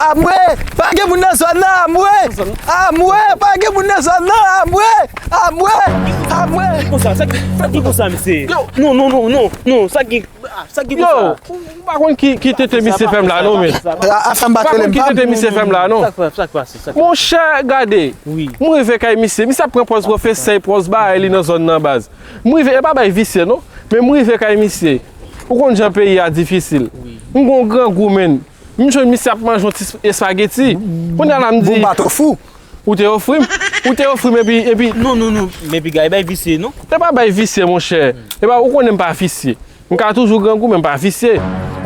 Amwe! Pa gen moun nan zòn nan! Amwe! Amwe! Pa gen moun nan zòn nan! Amwe! Amwe! Amwe! Ki konsa? Sa ki konsa misye? Non non non non non! Sa ki konsa? Yo! Ou pa konn ki tete misye fèm la non men! Ou pa konn ki tete misye fèm la non! Sa ki pase? Monchè gade! M rive kay misye, misye ap pran pòz pwofesè, pòz barè li nan zòn nan baz. M rive, e pa bagay visye non! Men m rive kay misye. Ou konn jan peyi a difisil. M gen yon grangou menn. M jwenn misye ap manje yon ti espageti. Kounya la m di. Bon m pa te ofri w. Ou te ofri m. Ou te ofri m epi. Non non non men piga e bay visye non. E pa bay visye monchè. E pa ou konnen m pa visye. M ka toujou grangou men m pa visye.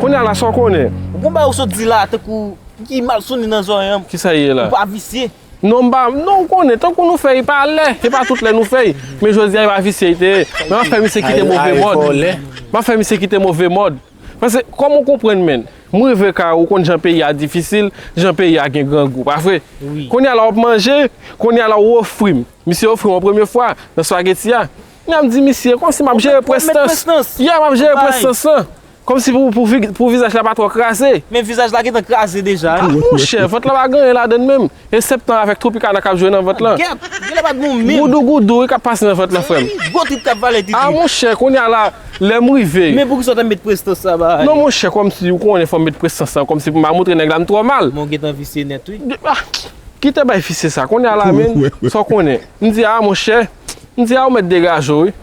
Kounya la sa w konnen. Bon bagay ou sot di la tankou ki mal soni nan zorèy an. Kisa ye la. Ou pa visye. Non m pa. Non ou konnen tankou nou fè e pa lè. E pa tout lè nou fè. Men jodi a e pa visye li te ye. Men m ap fè misye kite move mòd. M ap fè misye kite move mòd. Pase kom ou konprann menn. M rive kay ou konn jan peyi a difisil, jan peyi a gen grangou. Pa vre? Kounya la wap manje, kounya la ou ofri m. Misye ofri m yon premye fwa nan spaghetti a. M ap di misye, kom si m ap jere prestans. Yeah, m ap jere prestans lan. Kom si pou vizaj la pa tro kraze. Men vizaj la gentan kraze deja. Monchè, vant la pa gen anyen ladann menm. E septan avèk tropicana kap jwe nan vant lan. Gèp! Genlè pa gou menm. Goudou goudou wi kap pase nan vant lan frèm. Epi gwo trip kap vale ti trip. Ah monchè kounya la lèm rive. Men pouki sa w ta met prestans sa ba. Non monchè kòmsi ou konnen fòm met prestans lan kòmsi pou ma moutre nèg la m twò mal. Men w gentan visye nèt wi. Ah kite bay visye sa kounya la menn sa w konnen. M di ah monchè m di ah ou mèt degaje w wi.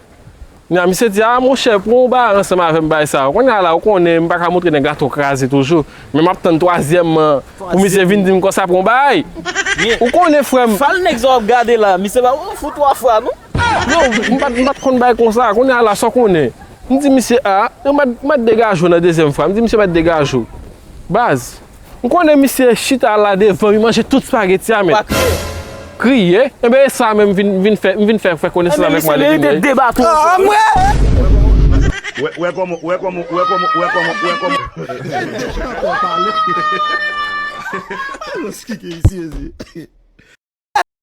Kounya misye di, ah monchè pran yon bagay ansanm avèm bay sa. Kounya la ou konnen m pa ka montre nèg la to kraze toujou, men map tann twazyèm man pou misye vin dim konsa pran yon bagay. Ou konnen frèm. Fal nèg sa wap gade la, misye pa pran fou 3 fwa non. Non, m pat konn bay konsa, kounya la sa w konnen. M di misye ah, m bat 2 gajou nan dezyèm fwa, m di misye bat 2 gajou. Baz. M konnen misye chita la devan mi manje tout spageti a met. Kriye? Enben e sa menm m vin fè, m vin fè fè konesans avèk m ale vini wi. Aah mwen!